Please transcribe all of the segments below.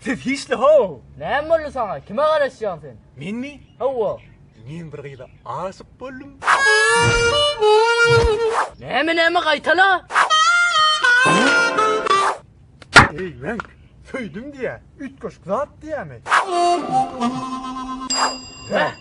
Siz hiçli how! Näme boldy saňa? Kime garaşýaň sen? Menmi? Hawa. Men bir gyza aşyk boldum. Näme näme gaýtala? Eý, men söýdüm diýä, üýtgeşik zat diýämi? Heh.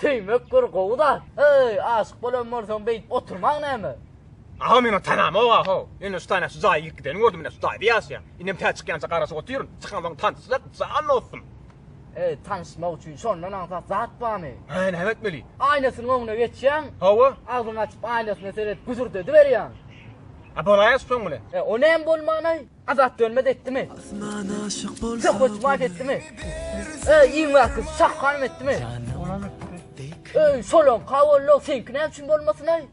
Söýmek bir gowy zat. Heý, aşyk bolan bolsaň beýdip oturmaň näme? Aga men ony tanamok-a how. Ýöne şu taýda şu jaýa girip gidenini gördüm ine şu taýda ýaşaýan. Indem tä çykýança garaşyp otyryn. Çykansoň tanyşsak jan dostum. Heý, tanyşmak üçin şondan aňsat zat barmy? Hä, näme etmeli? Aýnasynyň öňüne geçýäň. Hawa. Agzyňy açyp aýnasyna seredip güzürdediberýäň. A bolaýasy soň bilen. E o näme bolman-aý? Azat dönmez etdimi? Söhbet vaat etdimi? Ey iň vakit sah hanım etdimi? Ey solon kavollo senki ne için bolmasın ay?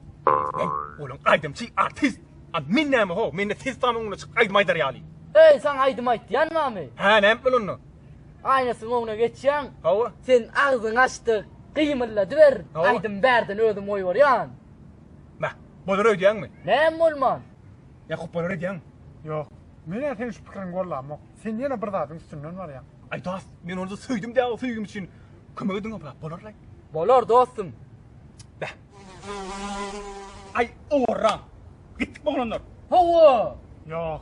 Olam aydımçı artist. A men näme ho? Men de ses tamam öňüne çykyp aydym aydar ýaly. Ey sen aydym ayt yan mı? He näme etmeli onda? Aynasın öňüne geçyan. Hawa. Sen ağzın açtı. Gıymırla düver. Aydym berden özüm oy var yan. Meh. Bolar ödyan mı? Näme olman? Ýa hupbalar edýäňmi? Ýok. Men-ä seniň şu pikiriňi gollamok. Sen ýene bir zadyň üstünden barýaň. Aý dost, men ony-da söýdüm dä, söýgim üçin kömek ediň obrat bolarlaý. Bolar dostum. Beh. Aý owarra. Gitdikmi oglanlar? Hawa. Ýok.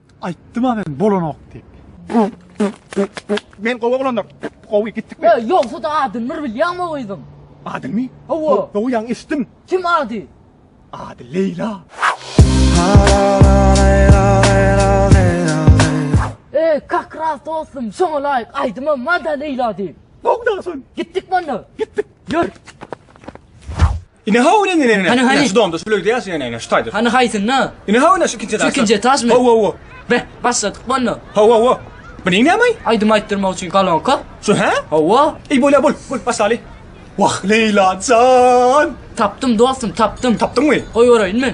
Aýtdym-a men bolanok diýip. Men gowy oglandyr. Gowy, gitdikmi? Ýa, ýogsa-da adyny bir bilýäňmi o gyzyň? Adyny? Hawa. Gowy ýaňy eşitdim. Kim ady? Ady Leýla. Eý, kak ras dostum, şoňa laýyk aýdymam bar-da Leýla diýip. Gowy daşyn. Gitdikmi onda? Gitdik. Ýör. Ine haw ine ine ine. Hany, hany. Ine şu domda şu bölgede ýaşaýan ine ine şu taýda. Hany haýsynda? Ine haw ine şu ikinji etaş. ikinji etaşmy? Haw haw haw. Be, başladyk bolna. Haw haw haw. Bu neýin näme? Aýdym aýtdyrmak üçin kolonka. Şu hä? Hawa, Ey bolya bol, bol başlaly. Wah Leyla can. tapdym dostum, tapdym. Tapdyňmy? Goýbereýinmi?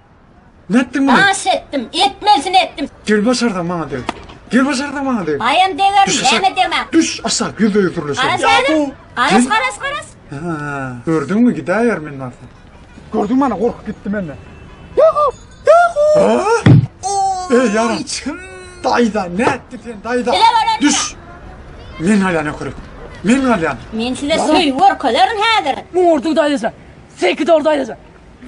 Nätdiň muny? Aş etdim, etmelisini etdim. Gel başarsaň maňa deg. Gel başarsaň maňa deg. Aýam degerin, Düş aşak. näme degmä? Düş aşak, ýüzde ýüz gürleşelim. Garaz Ýa häzir. bu- Garaz, garaz, garaz. Ha, gördüňmi, gidäýer men barsa. Gördüň mana gorkup gitdi menden. Ha? Ey yaram. Içim. Dayda ne etti sen dayda? Bile var etti. Düş. Men halyana körük. Men halyana. Men size söýgi görkezerin häzir. Muň orduň daýysa. Sekiz ordu daýysa.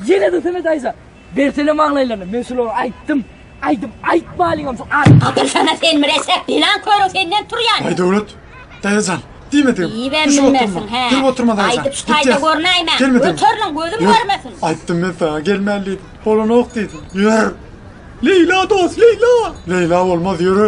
Ýene-de Semet aýza, bersene maňlaýlaryny, men şulary aýtdym, aýdyp aýtmalyňam şu at. Gatyrsana sen müreşek, pilan körüň senden turýan. Aý Döwlet, daýajan, diýmedigim. Diýibem bilmersiň, hä? Gel oturma daýajan. Aýdyp şu taýda görnäýmäň. Gelmedim. Göteriliň, gözüm görmesin. Aýtdym men saňa, gelmän diýdim. Bolanok diýdim. Ýör. Leýla dost, Leýla! Leýla bolmaz, ýöre.